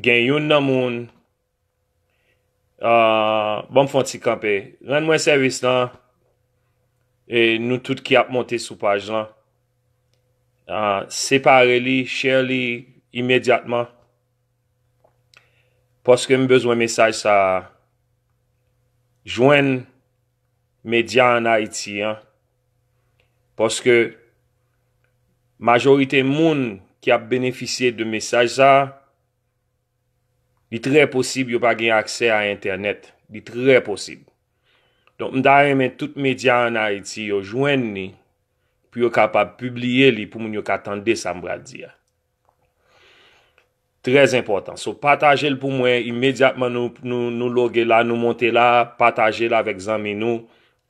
Gen youn nan moun Ahh banm fon ti kanpe rann mwen sèvis lan e nou tout ki ap monte sou paj lan Ahh separe li share li imedyatman paske m bezwen mesaj sa jwenn medya an Ayiti an. Paske majorite moun ki ap benefisye de mesaj sa, li trè posib yo pa gen aksè a entènèt. Li trè posib. Donk m ta renmen tout medya an Ayiti yo jwenn li pou yo kapab pibliye li pou moun yo ka tande sa m pral di a. Très enpòtan. So pataje l pou mwen imedyatman nou nou nou loge la nou monte la pataje l avèk zanmi nou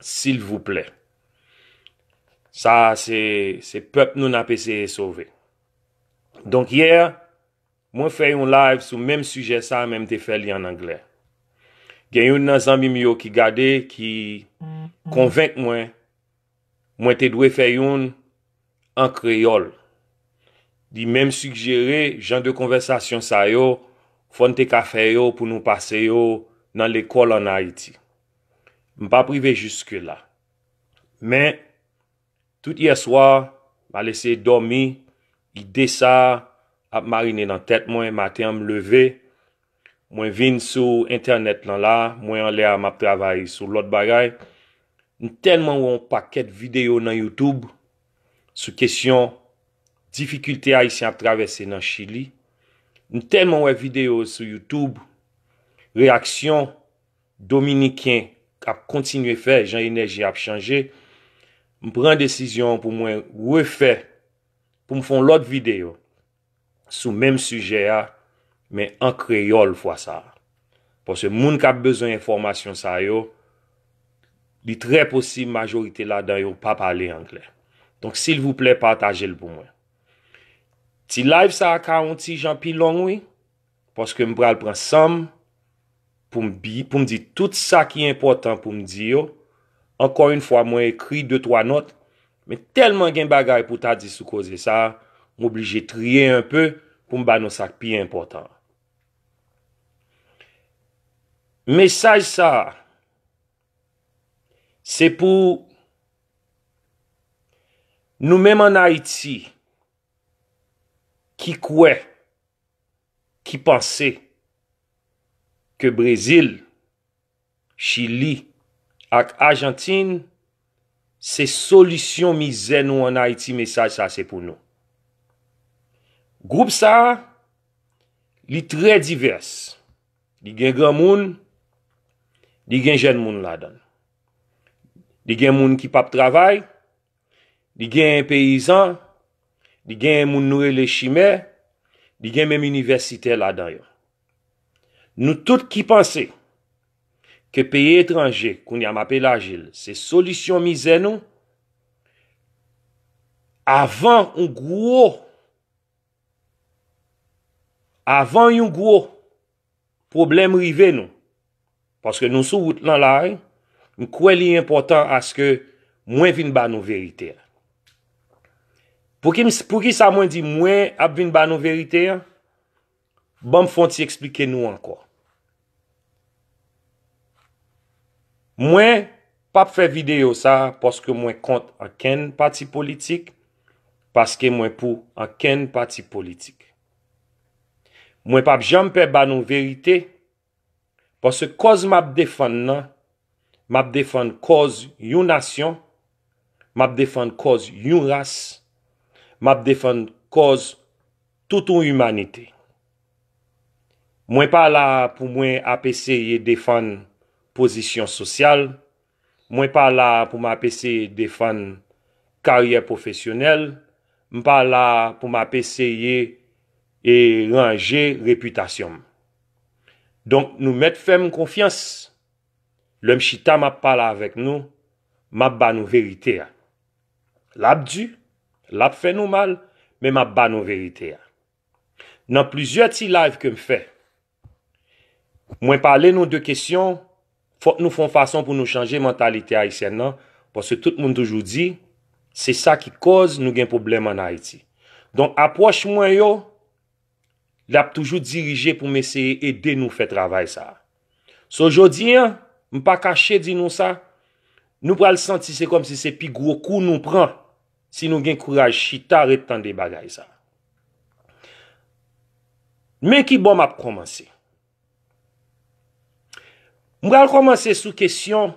silvouplè. Sa a se se pèp nou n ap eseye sove. Donk yè mwen fè yon live sou menm sijè sa a men m te fè li an anglè. Gen youn nan zanmi m yo ki gade ki konvenk mwen Mwen te dwe fè youn an kreyòl. Li menm sigjere jan de konvèsasyon sa yo fò n te ka fè yo pou nou pase yo nan lekòl ann Ayiti. M pa p rive jiskela. Men, tout yèswa, m al eseye dòmi, ide sa a ap marinen nan tèt mwen, maten an m leve, Mwen vin sou entènèt lan la, mwen anlè a map travay sou lòt bagay, m tèlman wè yon pakèt videyo nan youtube sou kesyon difikilte ayisyen ap travèse nan chili, m tèlman wè videyo sou youtube reyaksyon dominiken ap kontinye fè jan enèji ap chanje, m pran desizyon pou mwen refè pou m fè yon lòt videyo. sou menm sijè a men an kreyòl fwa sa a. Paske moun k ap bezwen enfòmasyon sa yo, li trè posib majorite ladan yo pa pale angle. Donk silvouplè pataje l pou mwen. Ti live sa a ka yon ti jan pi long wi. Paske m pral pran san m pou m bi, pou m di tout sa ki enpòtan pou m di yo. Ankò yn fwa mwen ekri de twa nòt, men tèlman gen bagay pou ta di sou koze sa, m oblije triye enpe pou m ba nou sa k pi enpòtan an. Mesaj sa, se pou nou menm an Ayiti. ki kwè, ki panse ke Brezil, Chili ak Ajantin se solisyon mizè nou an Ayiti mesaj sa se pou nou. Gwoup sa li trè divès, li gen granmoun, li gen jèn moun ladan l. Li gen moun ki pap travay. Li genyen peyizan, li genyen moun nou rele chimè, li gen menm inivèsitè ladan yo. Nou tout ki panse ke peyi etranje, kounye a m ap elaji l, se solisyon mizè nou, avan yon gwo, avan yon gwo, Pwoblèm rive nou. Paske nou sou wout lan la wi. M kwè li enpòtan aske mwen vin ba nou verite a. Poukisa mwen di mwen ap vin ba nou verite a? Banm fon ti eksplike nou ankò. Mwen pap fè videyo sa paske mwen kont ankenn pati politik, paske mwen pou ankenn pati politik. Mwen pap janm pè ba nou verite, paske kòz m ap defann nan, m ap defann kòz yon nasyon, m ap defann kòz yon ras, m ap defann kòz tout yon imanite. Mwen pa la pou mwen ap eseye defann pozisyon sosyal. Mwen pa la pou m ap eseye defann karyè pwofesyonèl, m pa la pou m ap eseye e ranje repitasyon m. Donk nou mèt fè m konfyans, lè m chita m ap pale avèk nou, m ap ba nou verite a. L ap di, l ap fè nou mal, men m ap ba nou verite a. Nan plizyè ti live ke m fè, Mwen pale nou de kesyon, fòk nou fè yon fason pou nou chanje mantalite ayisyèn nan, paske tout moun toujou di, se sa ki kòz nou gen pwoblèm an Ayiti. Donk apwòch mwen yo, li ap toujou dirije pou m eseye ede nou fè travay sa a. So jodi an, m pa kache di nou sa, nou pral santi se kòmsi se pi gwo kou nou pran. Si nou gen kouraj chita ret tande bagay sa. Men ki bò map kòmanse. M pral kòmanse sou kesyon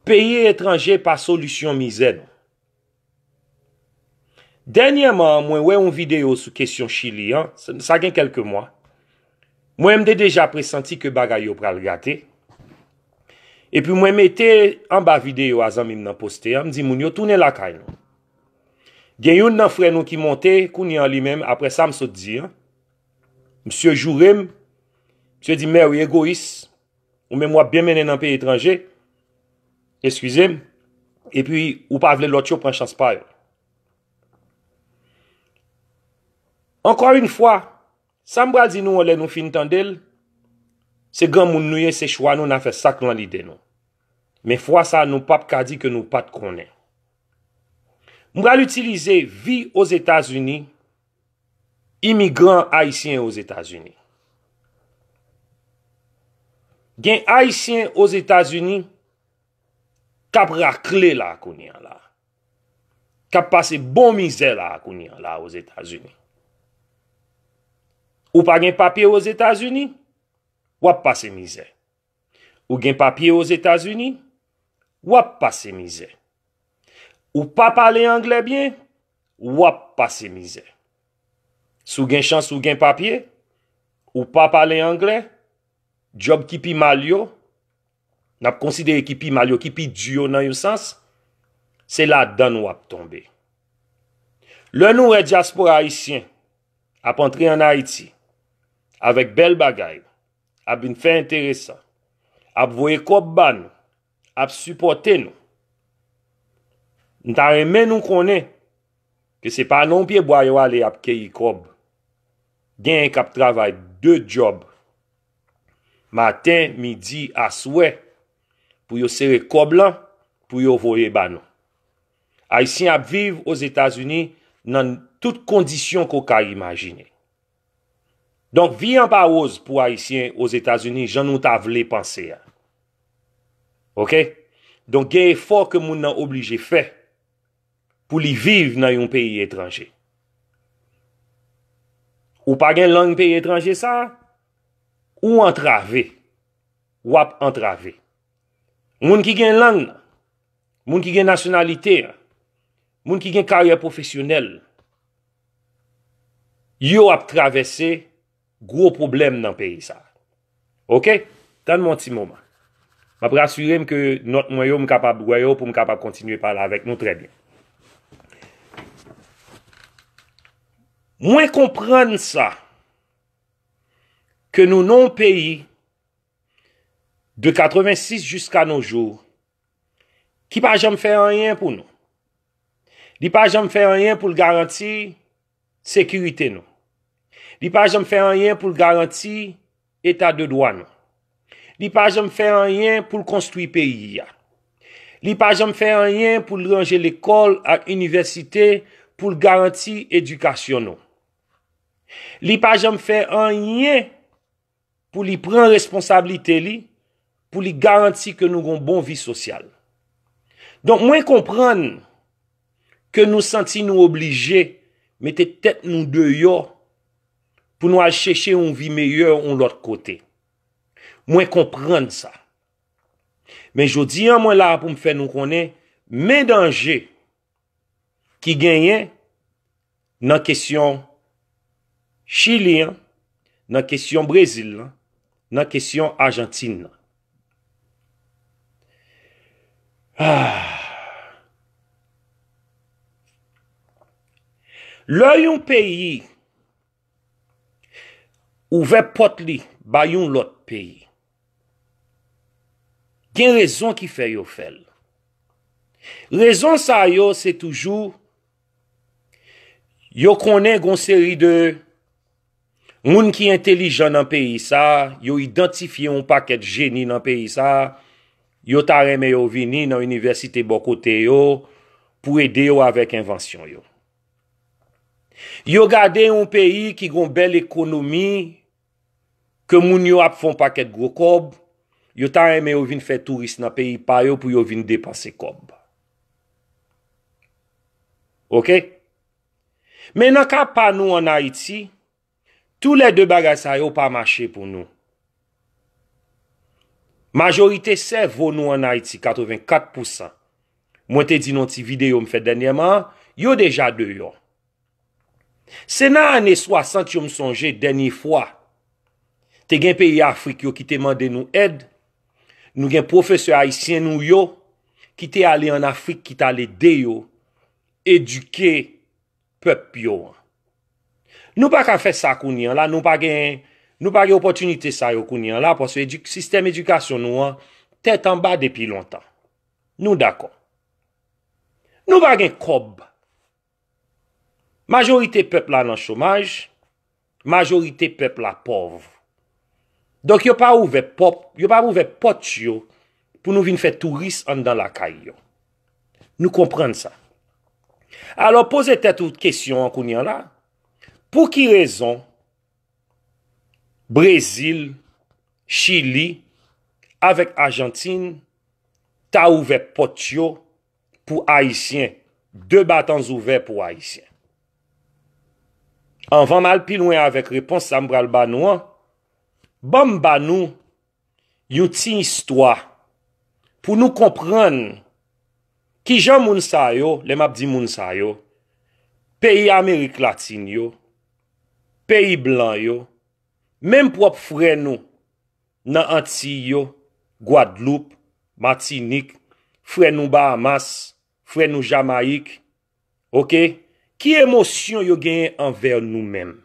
peyi etranje pa solisyon mizè nou. Dènyèman mwen wè yon videyo sou kesyon chili an, sa gen kelke mwa. Mwen m te deja presanti ke bagay yo pral gate, epi mwen mete anba videyo a zanmi m nan poste a, m di moun yo tounen lakay nou. Gen youn nan frè nou ki monte kounye an li menm aprè sa m sot di an, msye joure m, msye di Mary egoyis, ou menm w ap byen mennen nan peyi etranje, eskize m, epi ou pa vle lòt yo pran chans pa yo. Ankò yn fwa! Sa m pral di nou an lè nou fin tande l, se granmoun nou ye, se chwa nou, n a fè sa k lan lide nou. Men fwa sa a nou pap ka di ke nou pat konnen. M pral itilize vi Ozetazini, imigran ayisyen Ozetazini. Gen ayisyen Ozetazini k ap rakle la kounye a la. kap pase bon mizè la kounye an la ozetazini. Ou pa gen papye ozetazini, wap pase mizè. Ou gen papye ozetazini, wap pase mizè. Ou pa pale angle byen, wap pase mizè. Sou gen chans ou gen papye, ou pa pale angle, job ki pi mal yo, n ap konsidere ki pi mal yo, ki pi di yo nan yon sans, se ladan n w ap tonbe. Lè nou wè dyaspora ayisyen ap antre ann Ayiti avèk bèl bagay, ap vin fè enteresan, ap voye kòb ba nou, ap sipòte nou, m ta renmen nou konnen ke se pa nan yon pyebwa yo ale ap keyi kòb. Genyen k ap travay de djòb maten, midi, aswè pou yo sere kòb lan pou yo voye ba nou. Ayisyen ap viv Ozetazini nan tout kondisyon ke w ka imajine. Donk vi an pa woz pou Ayisyen Ozetazini jan nou ta vle panse a. Ok, donk gen efò ke moun nan oblije fè. pou li viv nan yon peyi etranje. Ou pa gen lang peyi etranje sa, ou antrave. Ou ap antrave. Moun ki gen lang nan, moun ki gen nasyonalite an, moun ki gen karyè pwofesyonèl, yo ap travèse. gwo pwoblèm nan peyi sa a. Ok, tann mwen yon ti moman. M ap rasire m ke nòt mwen yo m kapab wè yo pou m kapab kontinye pale avèk nou trè byen. Mwen konprann sa, ke nou nan yon peyi de 86 jiska no jou ki pa janm fè anyen pou nou. Li pa janm fè anyen pou l garanti. sekirite nou. Li pa janm fè anyen pou l garanti eta de dwa nou. Li pa janm fè anyen pou l konstwi peyi a. Li pa janm fè anyen pou l ranje lekòl ak inivèsite pou l garanti edikasyon nou. Li pa janm fè anyen. pou li pran responsablite li, pou li garanti ke nou gon bon vi sosyal. Donk mwen konprann ke nou santi nou oblije mete tèt nou deyò pou nou al chèche yon vi meyè yon lòt kote. Mwen konprann sa. Men jodi an mwen la pou m fè nou konnen men danje ki genyen nan kesyon Chili an, nan kesyon Brezil lan, nan kesyon Ajantin nan. Lè yon peyi Ouvè pòt li bay yon lòt peyi. Gen rezon ki fè yo fè l. Rezon sa yo se toujou yo konnen gon seri de moun ki entelijan nan peyi sa, yo idantifye yon pakèt jeni nan peyi sa, yo ta renmen yo vini nan inivèsite bò kote yo pou ede yo avèk envansyon yo. Yo gade yon peyi ki gon bèl ekonomi, ke moun yo ap fon pakèt gwo kòb, yo ta renmen yo vin fè touris nan peyi pa yo pou yo vin depanse kòb. Ok? Men nan ka pa nou an Ayiti, Tou lè 2 bagay sa yo pa mache pou nou. Majorite sèvo nou an Ayiti, 84 pou san, mwen te di nan yon ti videyo m fè dènyèman an, yo deja deyò. Se nan ane 60 yo m sonje dènye fwa, te gen peyi Afrik yo ki te mande nou èd, nou gen pwofesè ayisyen nou yo ki te ale an Afrik ki t al ede yo edike pèp yo an. Nou pa ka fè sa kounye an la, nou pa gen, nou pa gen opòtinite sa yo kounye an la, pòske edi, sistèm edikasyon nou an, tèt anba depi lontan. Nou dakò. Nou pa gen kòb. Majorite pèp la nan chomaj, Majorite pèp la pòv. Donk yo pa ouvè pòp, yo pa ouvè pòt yo pou nou vin fè touris anndan lakay yo. Nou konprann sa. Alò poze tèt ou kesyon an kounye an la, pou ki rezon Brezil, Chili avèk Ajantin ta ouvè pòt yo pou ayisyen, de batan zouvè pou ayisyen. Anvan m al pi lwen avèk repons sa m pral ba nou an, ban m ba nou yon ti istwa pou nou konprann ki jan moun sa yo, lè m ap di moun sa yo, peyi amerik latin yo, peyi blan yo, menm pwòp frè nou nan Antiy yo, Gwadloup, Matinik, frè nou Bahamas, frè nou Jamayik, ok, ki emosyon yo genyen anvè nou menm?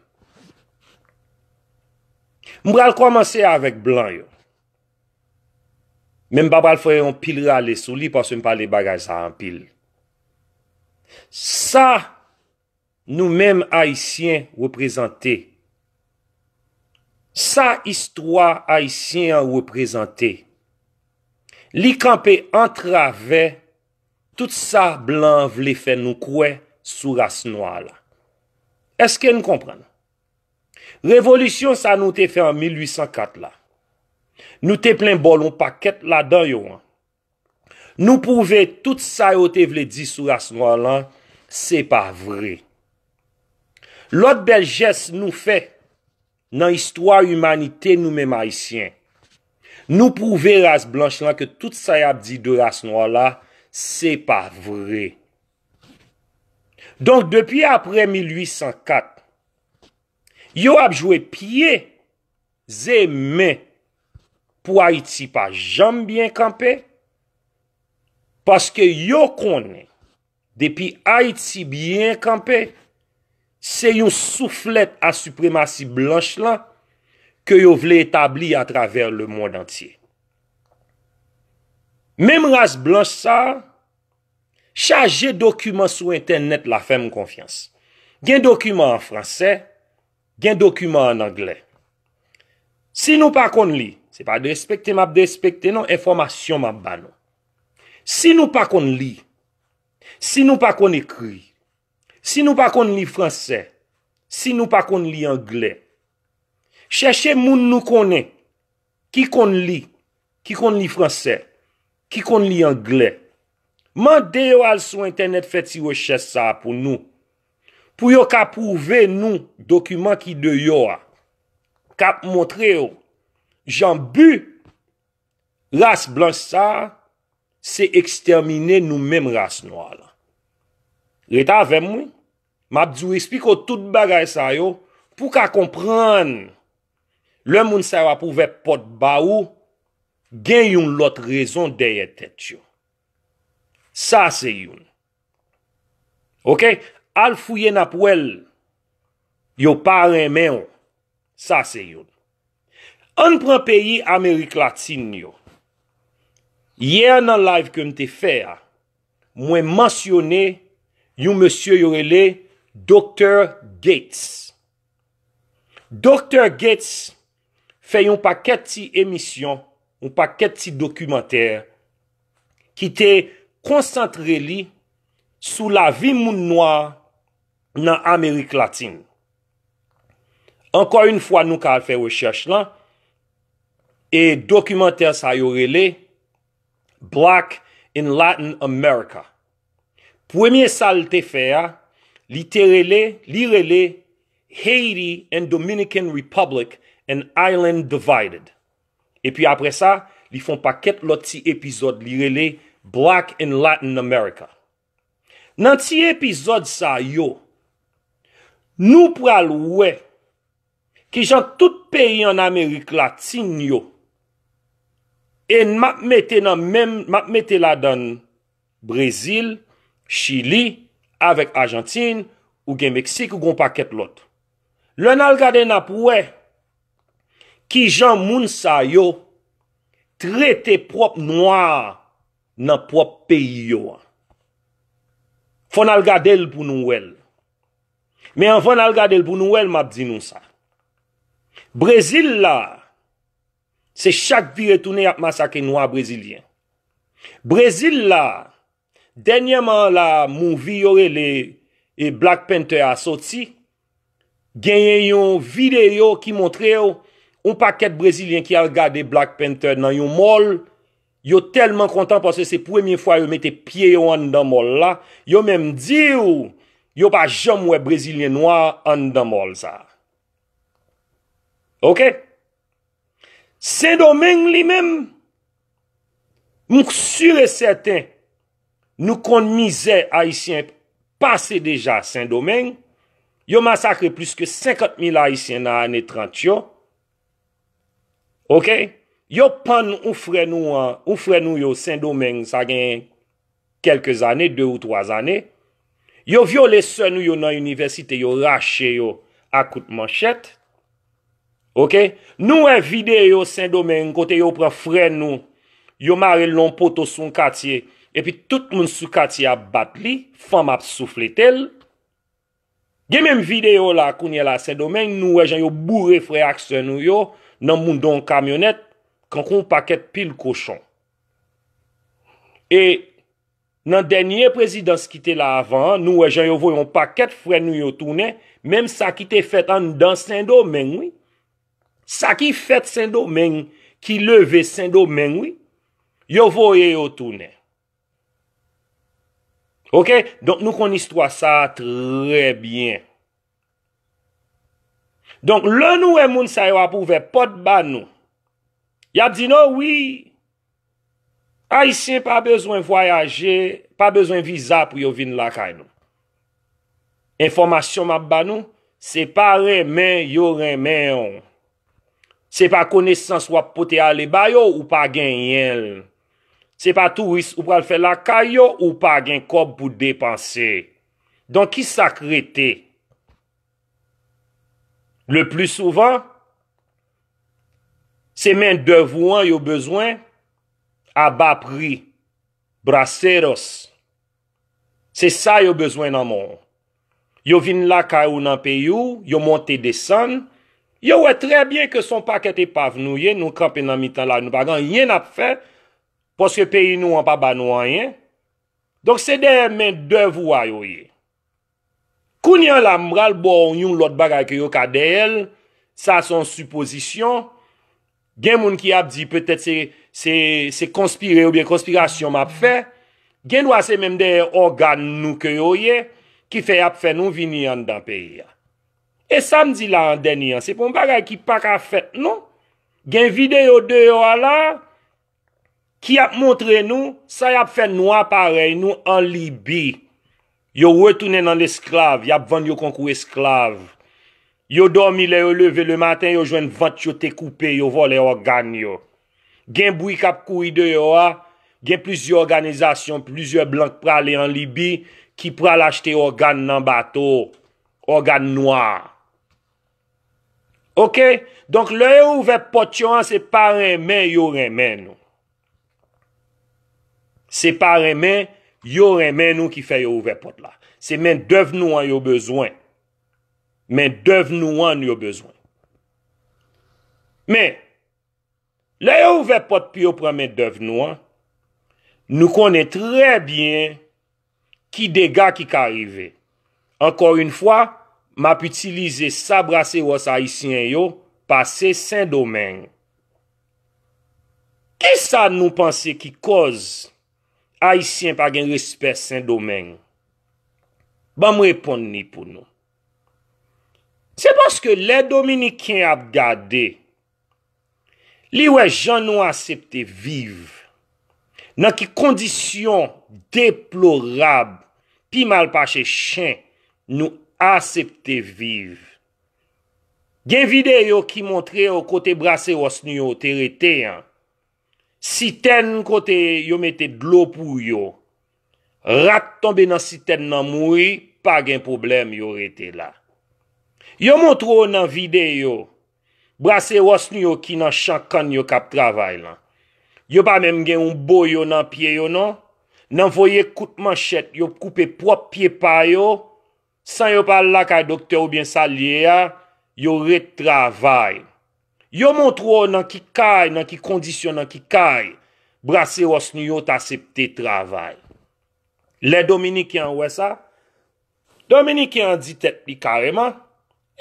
M pral kòmanse avèk blan yo, men m pa pral fè yon pil rale sou li paske m pale bagay sa anpil. Sa. Nou menm ayisyen reprezante. Sa istwa ayisyen an reprezante. Li kanpe antravè tout sa blan an vle fè nou kwè sou ras nwa la. Eske n konprann? Revolisyon sa nou te fè an 1804 la, nou te plen bòl yon pakèt ladan yo an. Nou pwouve tout sa yo te vle di sou ras nwa lan se pa vre. Lòt bèl jès nou fè nan istwa imanite nou menm Ayisyen, nou pwouve ras blanch lan ke tout sa y ap di de ras nwa la se pa vre. Donk depi apre 1804, yo ap jwe pye Ze men pou ayiti pa janm byen kanpe paske yo konnen depi ayiti byen kanpe se yon souflèt a sipremasi blanch lan ke yo vle etabli a travè le mond antye menm ras blanch sa chaje dokiman sou entènèt la fèm konfyans gen dokiman an fransè Gen dokiman an anglè. Si nou pa konn li, se pa derespekte m ap derespekte non, enfòmasyon m ap ba nou. Si nou pa konn li, si nou pa konn ekri, si nou pa konn li franse, si nou pa konn li anglè, chèche moun nou konnen ki konn li, ki konn li franse, ki konn li anglè. Mande yo al sou entènèt fè ti rechèch sa a pou nou. Pou yo ka pwouve nou dokiman ki deyò a, k ap montre yo jan bi ras blanch sa a se ekstèmine nou menm ras nwa lan. Ret avè m wi, m ap di w esplike w tout bagay sa yo pou w ka konprann lè moun sa yo ap ouvè pòt ba ou gen yon lòt rezon dèyè tèt yo. Sa se youn. Ok al fouye nap wè l. Yo pa renmen w. Sa se youn. Ann pran peyi amerik latin yo. Yè nan live ke m te fè a mwen mansyone yon mesye yo rele Doktè Gates. Doktè Gates fè yon pakèt ti emisyon, yon pakèt ti dokimantè ki te konsantre li sou lavi moun nwa nan Amerik Latin. Ankò yon fwa nou ka al fè rechèch lan, e dokimantè sa yo rele Black in Latin America. Premye sa l te fè a, li te rele, li rele Haiti and Dominican Republic, an island divided. Epi apre sa, li fè yon pakèt lòt ti epizòd li rele Black and Latin America. Nan ti epizòd sa yo, nou pral wè ki jan tout peyi an Amerik Latin yo, e m ap mete nan menm, m ap mete ladan Brezil, Chili, avèk Ajantin, ou gen Meksik, ou gen yon pakèt lòt. Lè n al gade n ap wè ki jan moun sa yo trete pwòp nwa nan pwòp peyi yo an. Fò n al gade l pou nou wè l. Men anvan n al gade l pou nou wè l m ap di nou sa. Brezil la. Se chak vire tounen yap masake nwa brezilyen. Brezil la, dènyèman an la movie yo rele e Black Panther a soti, genyen yon videyo ki montre w yon pakèt brezilyen ki al gade Black Panther nan yon mall, yo tèlman kontan paske se premye fwa yo mete pye yo anndan mall la, yo menm di w yo pa janm wè brezilyen nwa anndan mall sa. Ok! Sendomeng li menm, m sur e sèten, nou konn mizè Ayisyen pase deja Sendomeng, yo masakre plis ke 50 mil Ayisyen nan ane 30 yo, ok, yo pann ou frè nou an, ou frè nou yo Sendomeng sa gen. kèlke zane, 2 ou 3 zane, yo vyole sè nou yo nan inivèsite, yo rache yo a kout manchèt, ok, nou wè videyo Sendomeng kote yo pran frè nou, yo mare l nan yon poto sou yon katye, epi tout moun sou katye ap bat li, fanm ap souflete l. Gen menm video la kounye la sendomeng nou wè jan yo boure frè ak sè nou yo nan moudon kamyonèt kankou yon pakèt pil kochon e nan dènye prezidans ki te la avan an nou wè jan yo voye yon pakèt frè nou yo tounen menm sa ki te fèt anndan sendomeng wi sa ki fèt sendomeng ki leve sendomeng wi yo voye yo tounen. Ok, donk nou konn istwa sa trè byen. Donk lè nou wè moun sa yo ap ouvè pòt ba nou, y ap di nou wi, Ayisyen pa bezwen vwayaje, pa bezwen viza pou yo vin lakay nou. Enfòmasyon m ap ba nou, se pa renmen yo renmen ou. Se pa konesans w ap pote ale ba yo ou pa genyen l. Se pa touris ou pral fè lakay yo ou pa gen kòb pou depanse. Donk ki sa k rete? Le pli souvan, se mendèv ou an yo bezwen a ba pri, braceros. Se sa yo bezwen nan men w. Yo vin lakay ou nan peyi w, yo monte desann, yo wè trè byen ke son pakèt epav nou ye, nou kanpe nan mitan lari nou pa gen anyen n ap fè, paske peyi nou an pa ba nou anyen. Donk se dèyè men dèv ou a yo ye. Kounye an la m pral ba w yon lòt bagay ke yo ka dèyè l, sa se yon sipozisyon, Gen moun ki ap di petèt se konspire oubyen konspirasyon m ap fè, gen dwa se menm dèyè ògàn nou ke yo ye ki fè y ap fè nou vini anndan peyi a. E sa m di la an dènye an, se pa yon bagay ki pa ka fèt non. Gen videyo deyò a la. ki ap montre nou sa y ap fè nwa parèy nou an Libi, yo retounen nan lesklav, y ap vann yo kon kou esklav, yo dòmi lè yo leve le maten yo jwenn vant yo te koupe, yo vòlè ògàn yo. Gen bri k ap kouri deyò a, gen plizyè òganizasyon, plizyè blan k prale an Libi ki pral achte ògàn nan bato, ògàn nwa. Ok donk lè yo ouvè pòt yo an se pa renmen yo renmen nou se pa renmen yo renmen nou ki fè yo ouvè pòt la se men dèv nou an yo bezwen men dèv nou an yo bezwen men Lè yo ouvè pòt pou yo pran mendèv nou an, nou konnen trè byen ki dega ki ka rive. Ankò yon fwa, m ap itilize sa braseros ayisyen yo pase Sendomeng. Ki sa nou panse ki kòz Ayisyen pa gen respè Sendomeng? Ban m reponn li pou nou. Se paske lè Dominiken ap gade. Li wè jan nou asepte viv, nan ki kondisyon deplorab, pi mal pase chen, nou asepte viv. Gen videyo ki montre yo kote braseros nou yo te rete an, sitèn kote yo mete dlo pou yo, rat tonbe nan sitèn nan mouri, pa gen pwoblèm yo rete la. Yo montre w nan videyo. Braseros nou yo ki nan chan kann yo kap travay lan. Yo pa menm gen yon boyo nan pye yo non. Nan voye kout manchèt yo koupe pwòp pye pa yo, san yo pa al lakay doktè oubyen sa l ye a, yo ret travay. Yo montre w nan ki kay, nan ki kondisyon, nan ki kay braseros nou yo t asepte travay. Lè dominiken an wè sa, Dominiken an di tèt li kareman,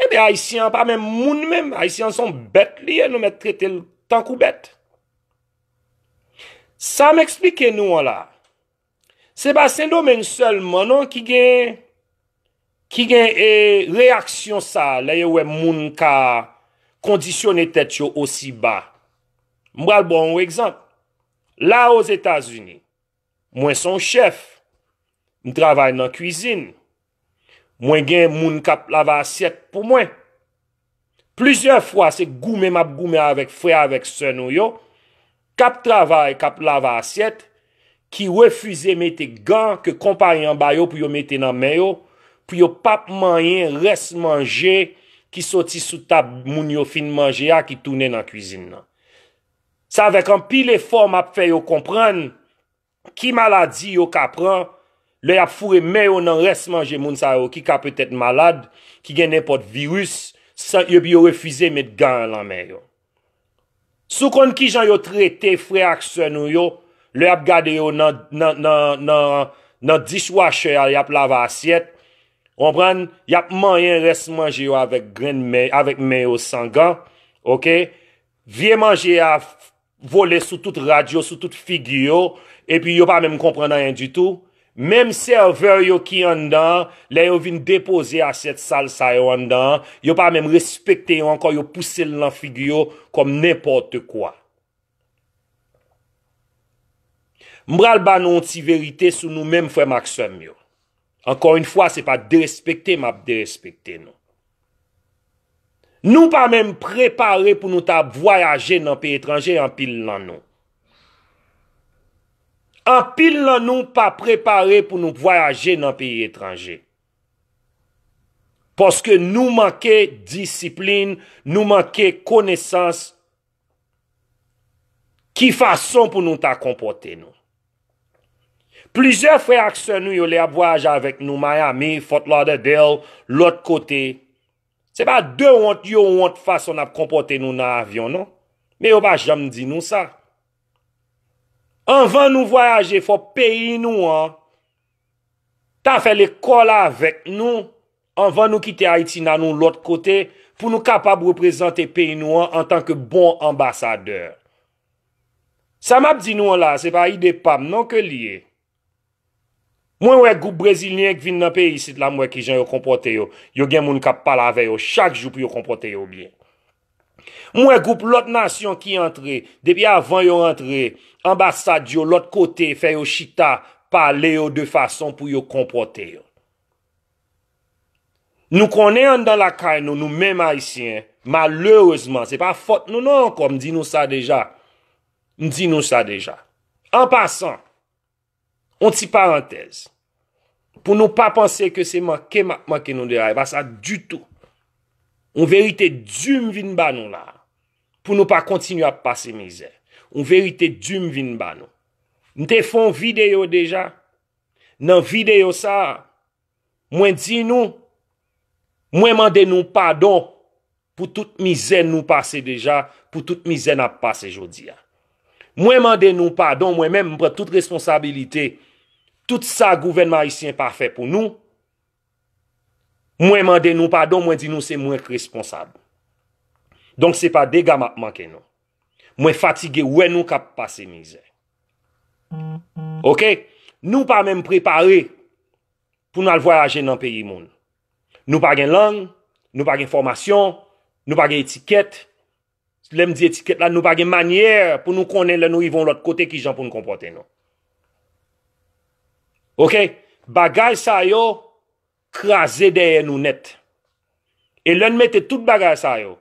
Ebe Ayisyen an pa menm moun menm, Ayisyen an son bèt li ye, nou mèt trete l tankou bèt. Sa m eksplike nou an la, se pa Sendomeng sèlman non ki gen e reyaksyon sa a lè yo wè moun ka kondisyone tèt yo osi ba. M pral ba w yon egzanp, la Ozetazini. Mwen s on chèf. M travay nan kuizin. Mwen gen moun k ap lave asyèt pou mwen. Plizyè fwa se goumen m ap goumen avèk frè avèk sè nou yo k ap travay, k ap lave asyèt, ki refize mete gan ke konpayi an ba yo pou yo mete nan men yo pou yo pa p manyen rès manje ki soti sou tab moun yo fin manje a ki tounen nan kuizin nan. Se avèk anpil efò m ap fè yo konprann ki maladi yo ka pran lè y ap foure men yo nan rès manje moun sa yo ki ka petèt malad, ki gen nenpòt viris, san yo epi yo refize met gan lan men yo. Si w konn kijan yo trete frè ak sè nou yo lè y ap gade yo nan dishwasher a y ap lave asyèt, ou konprann, y ap manyen rès manje yo avèk men yo san gan, ok. Vye manje a vole sou tout rad yo, sou tout figi yo, epi yo pa menm konprann anyen ditou. Menm sèvè yo ki anndan an, lè yo vin depoze asyèt sal sa yo anndan an, yo pa menm respekte yo ankò, yo pouse l nan figi yo kòm nenpòtekwa. M pral ba nou yon ti verite sou nou menm frè m ak sè m yo. Ankò yn fwa se pa derespekte map derespekte nou. Nou pa menm prepare pou nou ta vwayaje nan peyi etranje anpil nan nou. Anpil nan nou pa prepare pou nou vwayaje nan peyi etranje. Paske nou manke disiplin, nou manke konesans. Ki fason pou nou ta konpòte nou? Plizyè frè ak sè nou yo lè y ap vwayaje avèk nou Miami, Fort Lauderdale, lòt kote, se pa de wont yo wont fason n ap konpòte nou nan avyon non, men yo pa janm di nou sa. Anvan nou vwayaje fò peyi nou an ta fè lekòl avèk nou Anvan nou kite Ayiti n annou lòt kote pou nou kapab reprezante peyi nou an antanke bon anbasadè. Sa m ap di nou an la a se pa ide pa m non ke l ye. Mwen wè gwoup brezilyen k vin nan peyi isit la m wè kijan yo konpòte yo, yo gen moun k ap pale avè yo chak jou pou yo konpòte yo byen. M wè gwoup lòt nasyon ki antre, depi avan yo antre, anbasad yo lòt kote fè yo chita pale yo de fason pou yo konpòte yo. Nou konnen anndan lakay nou, nou menm Ayisyen, malerezman, se pa fòt nou non ankò, m di nou sa deja, m di nou sa deja. An pasan, on ti parantèz, pou nou pa panse ke se manke m ap manke nou de la, e pa sa ditou. On verite di m vin ba nou la, pou nou pa kontinye ap pase mizè. On verite di m vin ba nou. M te fon videyo deja. Nan videyo sa, mwen di nou, mwen mande nou padon pou tout mizè nou pase deja, pou tout mizè n ap pase jodi a. Mwen mande nou padon, mwen menm m pran tout responsabilite, tout sa gouvènman ayisyen pa fè pou nou, mwen mande nou padon, mwen di nou se mwen k responsab. Donk se pa dega m ap manke nou. Mwen fatige wè nou k ap pase mizè. Ok, nou pa menm prepare pou nou al vwayaje nan peyi moun. Nou pa gen lang, nou pa gen fòmasyon, nou pa gen etikèt. Lè m di etikèt la, nou pa gen manyè pou nou konnen lè nou rive yon lòt kote ki jan pou nou konpòte nou. Ok, bagay sa yo kraze dèyè nou nèt. E lè nou mete tout bagay sa yo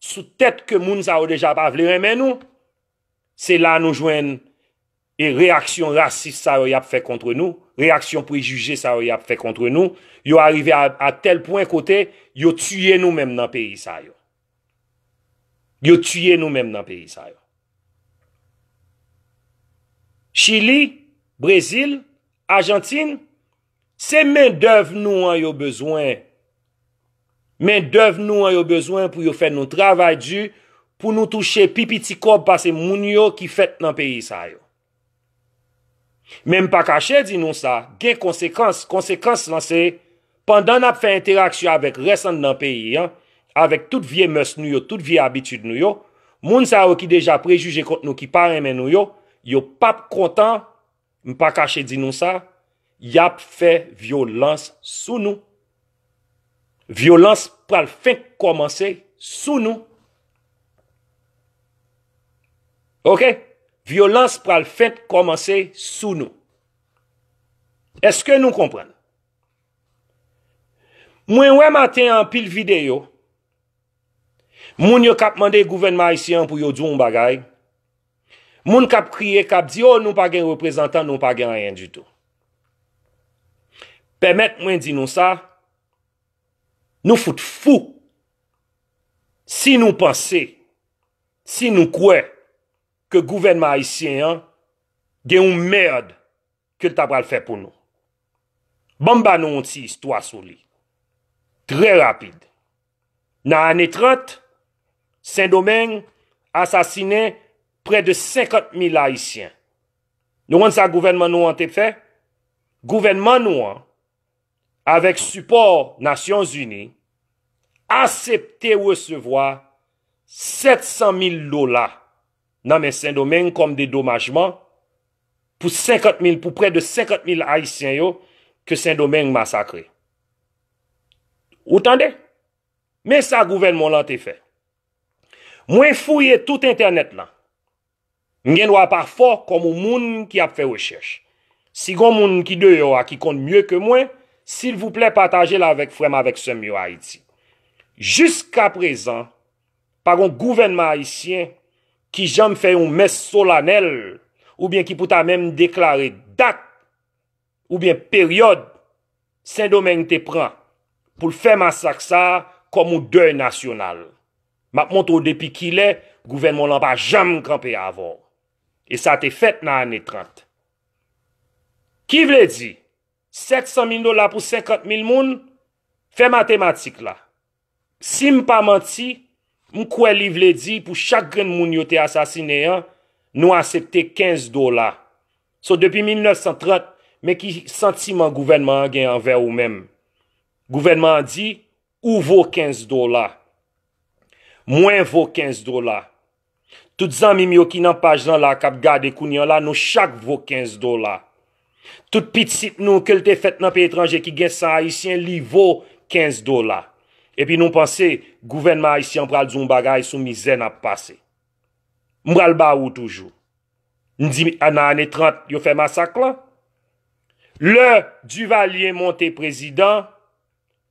sou tèt ke moun sa yo deja pa vle renmen nou, Se la nou jwenn e reyaksyon rasis sa yo y ap fè kontre nou, reyaksyon prejije sa yo y ap fè kontre nou, yo arive a tèl pwen kote yo tiye nou menm nan peyi sa yo. Yo tiye nou menm nan peyi sa yo. Chili, Brezil, Ajantin, Se men dèv nou an yo bezwen. Men dèv nou an yo bezwen pou yo fè nou travay di pou nou touche pi piti kòb pase moun yo ki fèt nan peyi sa yo. Men m pa kache di nou sa, gen konsekans, konsekans lan se pandan n ap fè enteraksyon avèk rès anndan peyi an, avèk tout vye mès nou yo, tout vye abitid nou yo, moun sa yo ki deja prejije kont nou, ki pa renmen nou yo, yo p ap kontan M pa kache di nou sa, y ap fè vyolans sou nou. Vyolans pral fenk kòmanse sou nou. Ok, vyolans pral fenk kòmanse sou nou. Eske nou konprann? Mwen wè maten an pil videyo, moun yo k ap mande gouvènman ayisyen an pou yo di yon bagay, Moun kap kriye kap di oh nou pa gen reprezantan nou pa gen anyen ditou. Pèmèt mwen di nou sa, nou fout fou si nou panse, si nou kwè ke gouvènman ayisyen an gen yon merd ke l ta pral fè pou nou. Banm ba nou yon ti istwa sou li. Trè rapid. Nan ane 30, Sendomeng asasinen prè de 50 mil Ayisyen. Nou konn sa gouvènman nou an te fè? Gouvènman nou an, avèk sipò Nasyon Zini, asepte resevwa 700 mil dola nan men Sendomeng kòm dedomajman pou prè de 50 mil Ayisyen yo ke Sendomeng masakre. Ou tande? Men sa gouvènman w lan te fè. Mwen fouye tout entènèt lan. M gen dwa pa fò kòm on moun ki ap fè rechèch. Si gon moun ki deyò a ki konn mye ke mwen, silvouplè pataje l avèk frè m avèk sè m yo Ayiti. Jiskaprezan, pa gon gouvènman ayisyen ki janm fè yon mès solanèl oubyen ki pou ta menm deklare dat oubyen peryòd Sendomeng te pran pou l fè masak sa a kòm yon dèy nasyonal. M ap montre w depi kilè gouvènman w lan pa janm kanpe avè w. E sa te fèt nan ane 30. Ki vle di, 700 mil dola pou 50 mil moun, fè matematik la. Si m pa manti, m kwè li vle di pou chak grenn moun yo te asasinen an, nou asepte 15 dola. So depi 1930, men ki santiman gouvènman an gen anvè ou menm. Gouvènman an di, ou vo 15 dola. Mwen vo 15 dola. Tout zanmim yo ki nan paj lan la kap gade kounye la nou chak vo 15 dola. Tout pitit nou ke l te fèt nan peyi etranje ki gen san ayisyen li vo 15 dola. Epi nou panse gouvènman ayisyen an pral di w yon bagay sou mizè nap pase. M pral ba ou toujou. M di nan ane 30 yo fè masak lan. Lè Duvalier monte prezidan,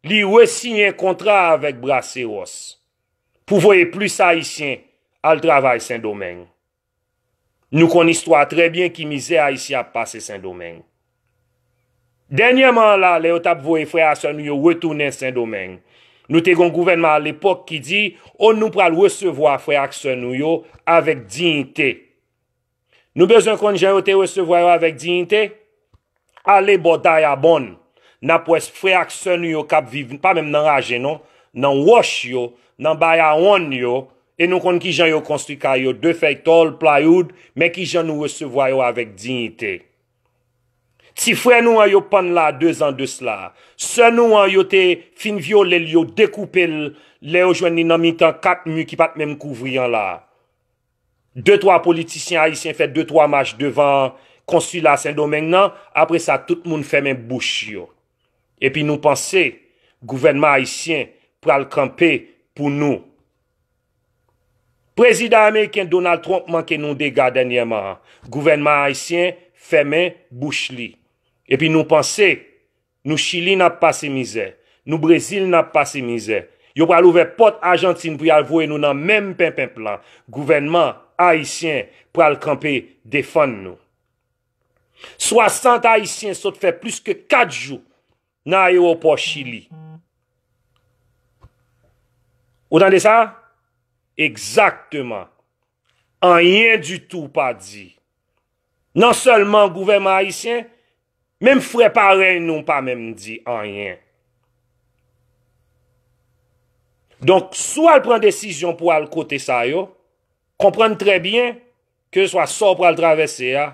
li resiyen kontra avèk Braceros. pou voye plis ayisyen al travay sendomeng nou konn istwa trè byen ki mizè ayisyen ap pase sendomeng dènyèman an la lè yo tap voye frè a sè nou yo retounen sendomeng nou te gon gouvènman alepòk ki di o nou pral resevwa frè ak sè nou yo avèk diyite Nou bezwen konn jan yo te resevwa yo avèk diyite? Ale bò Dayabonn, n ap wè frè ak sè nou yo k ap viv, pa menm nan raje non, nan wòch yo, nan bayawonn yo, e nou konn ki jan yo konstwi kay yo, de fèy tòl, playoud, men ki jan nou resevwa yo avèk diyite. Ti frè nou an yo pann la dezan de cela, sè nou an yo te fin vyole l, yo dekoupe l lè yo jwenn li nan mitan kat mi ki pa t menm kouvri an la. De twa politisyen ayisyen fè de twa mach devan konsila Sendomeng nan, apre sa tout moun fèmen bouch yo. Epi nou panse gouvènman ayisyen pral kanpe pou nou. Prezidan ameriken Donald Trump manke nou dega dènyèman an, gouvènman ayisyen fèmen bouch li. Epi nou panse. Nou chili nap pase mizè. Nou brezil nap pase mizè. Yo pral ouvè pòt ajantin pou yal voye nou nan menm penpenp lan. Gouvènman Ayisyen pral kanpe defann nou. 60 ayisyen sot fè plis ke 4 jou nan ayewopò chili. Ou tande sa? Egzakteman. Anyen ditou pa di. Non sèlman gouvèman ayisyen Menm frè parèy nou pa menm di anyen. Donk si w al pran desizyon pou al kote sa yo, konprann trè byen ke swa sa w pral travèse a,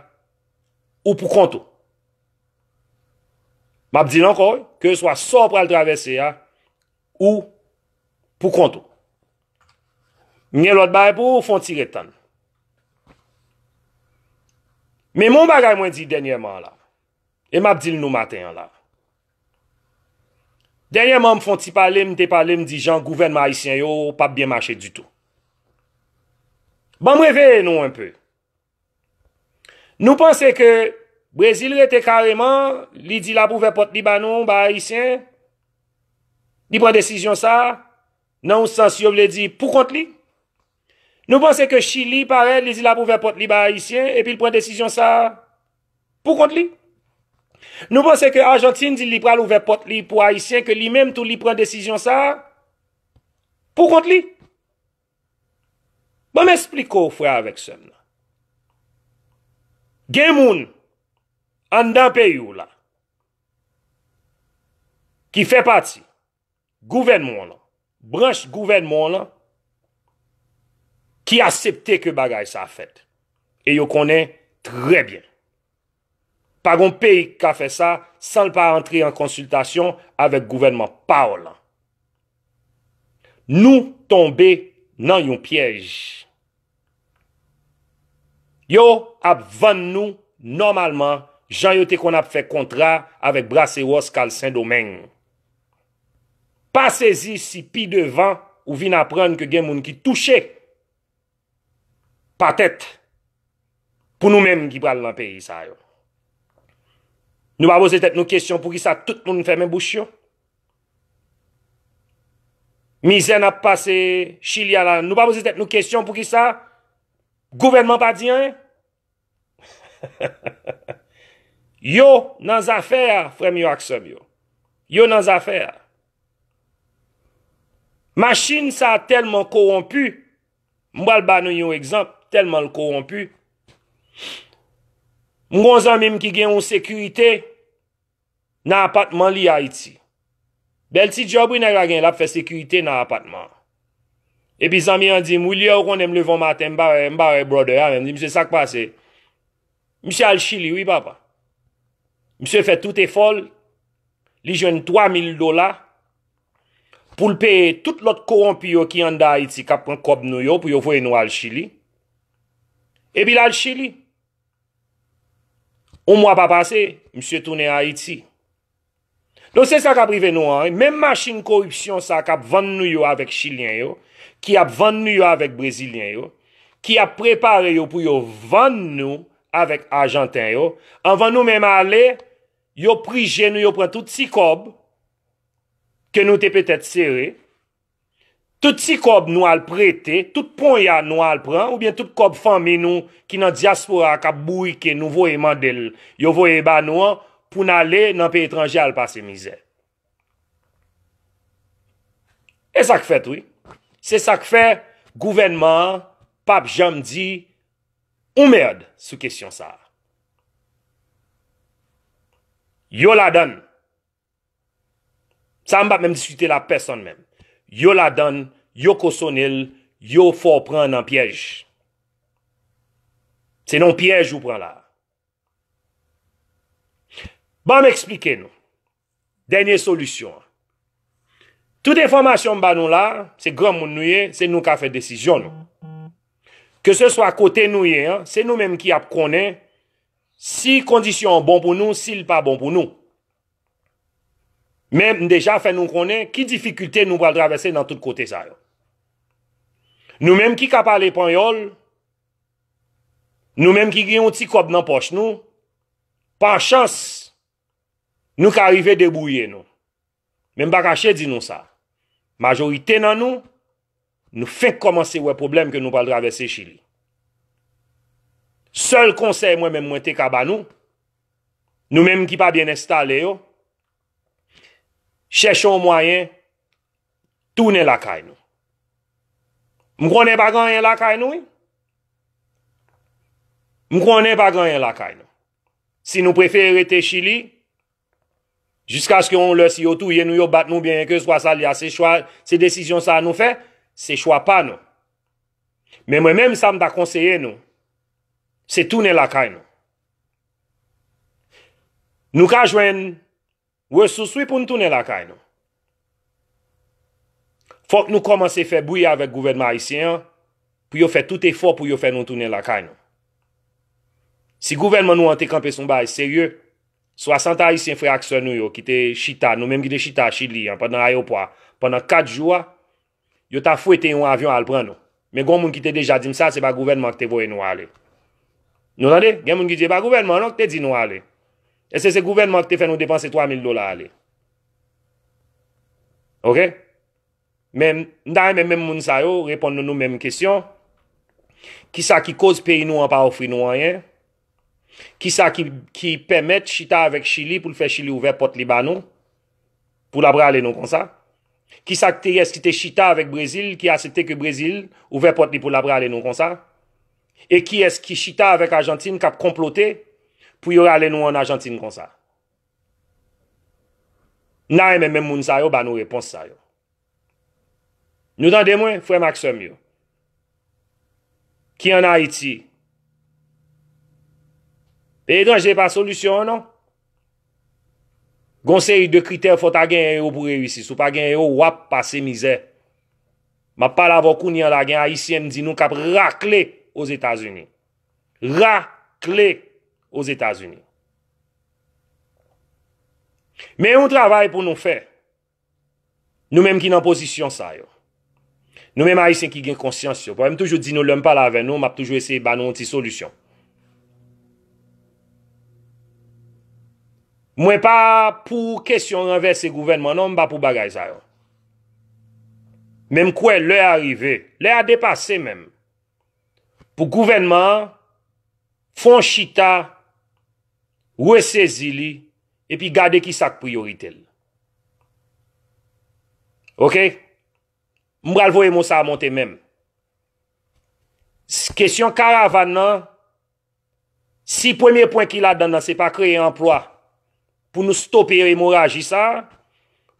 ou pou kont ou. M ap di l ankò wi, ke swa sa w pral travèse a, ou pou kont ou. M gen lòt bagay pou ou, fon ti ret tann. Men m gen yon bagay mwen di dènyèman an la, e m ap di l nou maten an la. Dènyèman m fon ti pale, m te pale, m di jan gouvènman ayisyen yo pa byen mache ditou. Ban m reveye nou enpe, Nou panse ke Brezil rete kareman, li di lap ouvè pòt li ba nou, ba Ayisyen, li pran desizyon sa, nan yon sans yo vle di pou kont li? Nou panse ke Chili parèt, li di lap ouvè pòt li ba Ayisyen, epi l pran desizyon sa, pou kont li? Nou panse ke Ajantin di li pral ouvè pòt li pou Ayisyen, ke li menm tou li pran desizyon sa, pou kont li? Ban m esplike w frè avèk sè m nan. Gen moun anndan peyi w la ki fè pati gouvènman w lan, branch gouvènman w lan ki asepte ke bagay sa fèt e yo konnen trè byen. Pa gon peyi k ka fè sa san l pa antre an konsiltasyon avèk gouvènman paw lan. Nou tonbe nan yon pyèj. Yo ap vann nou nòmalman jan yo te konn ap fè kontra avèk Braceros kal Sendomeng. Pa sezi si pi devan ou vin aprann ke gen moun ki touche. pa tèt pou nou menm ki pral nan peyi sa yo. Nou pa poze tèt nou kesyon pou ki sa tout moun fèmen bouch yo. Mizè n ap pase chili a la, nou pa poze tèt nou kesyon pou ki sa gouvènman pa di anyen. Yo nan zafè a frèm yo ak sèm yo Yo nan zafè a Machine sa telman kowonpi M pral ba nou yon egzanp telman l kowonpi M gon zanmi m ki gen yon sekirite Nan apatman li ayiti. Bèl ti djòb wi nèg la gen lap fè sekirite nan apatman. Epi zanmi an dim wi lye ou konnen m leve yon maten m pa wè m pa wè brother a menm m di misye sak pase. Misye al chili wi papa. Misye fè tout efò l li jwenn 3000 dola pou l peye tout lòt kowonpi yo ki anndan ayiti kap pran kòb nou yo pou yo voye nou al chili. Epi lal chili. On mwa pa pase, misye tounen Ayiti. Donk se sa k ap rive nou an, menm machin koripsyon sa k ap vann nou yo avèk Chilyen yo, ki ap vann nou yo avèk Brezilyen yo, ki ap prepare yo pou yo vann nou avèk Ajanten yo, anvan nou menm ale, yo prije nou, yo pran tout ti kòb ke nou te petèt sere. Tout ti kòb nou al prete, tout ponya nou al pran, oubyen tout kòb fanmi nou ki nan dyaspora a k ap bourike nou voye mande l, yo voye ba nou an, pou n ale nan peyi etranje al pase mizè. E sa k fèt wi. Se sa k fè gouvènman an pa p janm di yon mèrd sou kesyon sa a. Yo ladan l. Sa m pa menm diskite la pèsòn menm. Yo ladann, yo kosone l, yo fè w pran nan pyèj. Se nan yon pyèj ou pran la. Ban m eksplike nou. Dènye solisyon an. Tout enfòmasyon m ba nou la, se granmoun nou ye, se nou k ap fè desizyon nou. Ke se swa kote nou ye an, se nou menm ki ap konnen si kondisyon an bon pou nou, si l pa bon pou nou. Men m deja fè nou konnen ki difikilte nou pral travèse nan tout kote sa yo. Nou menm ki ka pale panyòl, nou menm ki gen yon ti kòb nan pòch nou, pa chans, nou ka rive debouye nou. Men m pa kache di nou sa, majorite nan nou, Nou fenk komanse wè pwoblèm ke nou pral travèse chili. Sèl konsèy mwen menm mwen te ka ba nou, nou menm ki pa byen enstale yo, chèche yon mwayen tounen lakay nou. M konnen pa gen anyen lakay nou wi. M konnen pa gen anyen lakay nou. Si nou prefere rete chili, Jiskaske yon lè si yo touye nou, yo bat nou oubyen kèlkeswa sa li a, se chwa, se desizyon sa a nou fè, se chwa pa nou. Men mwen menm sa m ta konseye nou, se tounen lakay nou. Nou ka jwenn resous wi pou nou tounen lakay nou. Fòk nou kòmanse fè bri avèk gouvènman ayisyen an pou yo fè tout efò pou yo fè nou tounen lakay nou. Si gouvènman nou an te kanpe sou yon bagay serye, 60 ayisyen frè ak sè nou yo ki te chita, nou menm ki te chita Chili an pandan ayewopò a pandan 4 jou a, Yo ta fwete yon avyon al pran nou. Men gon moun ki te deja dim sa se pa gouvènman an ki te voye nou ale. Nou tande? Gen moun ki di e pa gouvènman an non ki te di nou ale. Eske se gouvènman an ki te fè nou depanse 3000 dola ale? Ok? Men, m ta renmen menm moun sa yo reponn nou nou menm kesyon, kisa ki koz peyi nou an pa ofri nou anyen? Kisa ki pèmèt chita avèk Chili pou l fè Chili ouvè pòt li ba nou? Pou la prale nou konsa? Kisa k te yes ki te chita avèk Brezil ki asepte ke Brezil ouvè pòt li pou la prale nou konsa? E kiyès ki chita avèk Ajantin kap konplote pou yo rale nou an Ajantin konsa? N ta renmen menm moun sa yo ba nou repons sa yo. Nou tande mwen, frè m ak sè m yo, ki an Ayiti. Peyi etranje pa solisyon an non. Gon seri de kritè fò ta genyen yo pou reyisi. Sou pa genyen yo, w ap pase mizè. M ap pale avè w kounye an la, gen Ayisyen m di nou k ap rakle Ozetazini. Rakle Ozetazini. Men yon travay pou nou fè. Nou menm ki nan pozisyon sa yo. Nou menm Ayisyen ki gen konsyans yo. Pwèm toujou di nou lèm pale avè nou, map toujou eseye ba nou yon ti solisyon. Mwen pa pou kesyon ranvèse gouvènman non, m pa pou bagay sa yo. Men m kwè lè a rive, lè a depase menm, pou gouvènman an fon chita, resezi li, epi gade ki sak priyorite l. Ok M pral voye mo sa monte menm Kesyon karavan nan Si premye pwen ki ladan nan se pa kreye anplwa Pou nou stope emoraji sa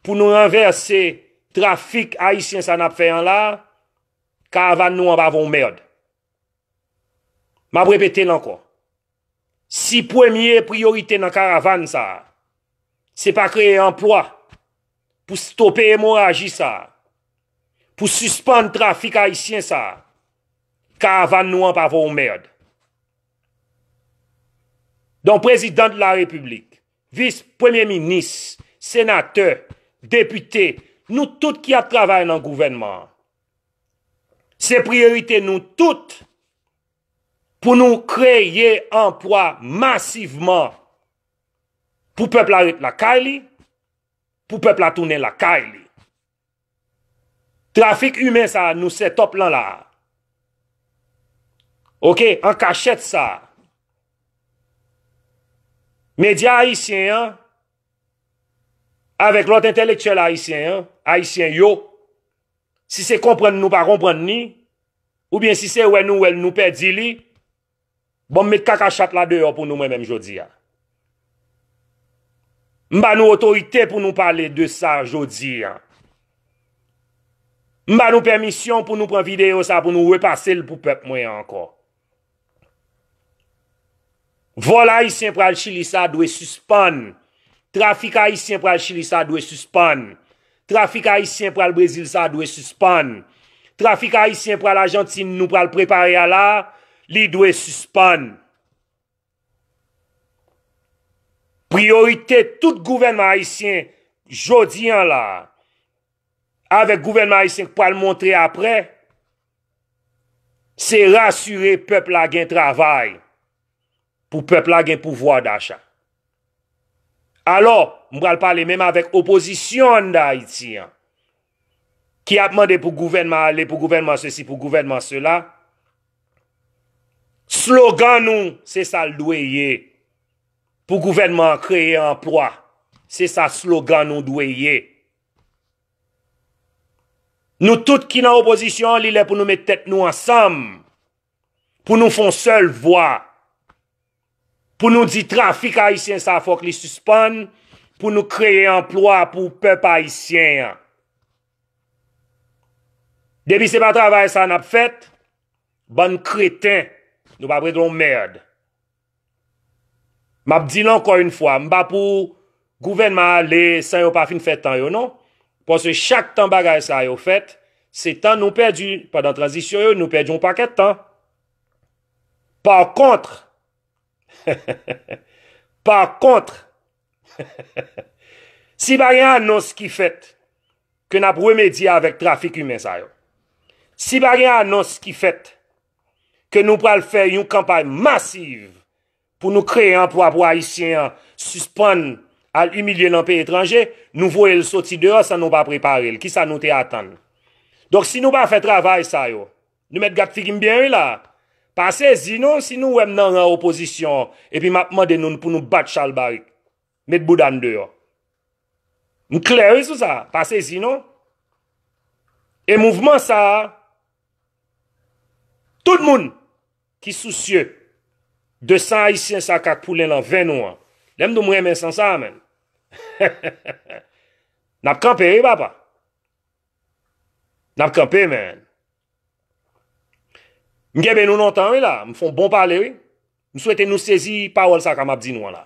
Pou nou ranvèse trafik ayisyen sa n ap fè an la Karavan nou an pa vo yon mèrd M ap repete l ankò Si premye priyorite nan karavan sa a, se pa kreye anplwa pou stope emoraji sa a, pou sispann trafik ayisyen sa a, karavan nou an pa vo yon mèrd. Donk prezidan de la repiblik, vis premye minis, senatè, depite, nou tout ki ap travay nan gouvènman an, se priyorite nou tout, Pou nou kreye anpwa masivman pou pèp la ret lakay li, pou pèp la tounen lakay li. Trafik imen sa nou setòp lan la. Ok, an kachèt sa. Medya ayisyen an, avèk lòt entèlektyèl ayisyen an, ayisyen yo. Si se konprann nou pa konprann li, oubyen si se wè nou wè l nou pèdi li, bon m met kaka chat la deyò pou nou mwen menm jodi a. M ba nou otorite pou nou pale de sa jodi a. M ba nou pèmisyon pou nou pran videyo sa pou nou repase l pou pèp mwen an ankò. Vol ayisyen pral chili sa dwe sispann trafik ayisyen pral chili sa dwe sispann trafik ayisyen pral brezil sa dwe sispann trafik ayisyen pral ajantin nou pral prepare a la li dwe sispann. Priyorite tout gouvènman ayisyen jodi an la a, avèk gouvènman ayisyen k pral monte aprè, se rasire pèp la gen travay, pou pèp la gen pouvwa dacha. Alò, m pral pale menm avèk opozisyon an nan Ayiti an. ki ap mande pou gouvènman ale, pou gouvènman sesi, pou gouvènman sela, slogan nou se sa l dwe ye, pou gouvènman an kreye anplwa, se sa slogan nou dwe ye. Nou tout ki nan opozisyon an li lè pou nou met tèt nou ansanm, pou nou fon sèl vwa. Pou nou di trafik ayisyen sa fok li sispann pou nou kreye anplwa pou pep ayisyen an. Depi se pa travay sa nap fet, bann kreten, nou pap regle yon merd. Map dil anko yon fwa, m pa pou gouvenman ale san yo pa fin fe tan yo non. Paske chak tan bagay sa yo fet, se tan nou pedi pandan tranzisyon yo, nou pedi yon paket tan. Pa kontre, pa kontre, si pa gen anons ki fèt ke n ap remedye avèk trafik imen sa yo, si pa gen anons ki fèt ke nou pral fè yon kanpay masiv pou nou kreye anplwa pou Ayisyen an sispann al imilye nan peyi etranje, nou voye l soti deyò san nou pa prepare l, kisa nou te atann? Donk si nou pa fè travay sa yo, Nou mèt gad figi m byen wi la. Pa sezi non si nou wè m nan ran opozisyon epi m ap mande nou pou nou bat chalbarik. Met bouda n deyò. M klè wi sou sa. Pa sezi non. E mouvman sa a, tout moun ki sousye de san ayisyen sa a k ap koule lan ven nou an, lè m di w m renmen san sa a menn, n ap kanpe wi papa. Nap kanpe man. M kenbe nou lontan wi la, m fon bon pale wi. M swete nou sezi pawòl sa ka map di nou an la.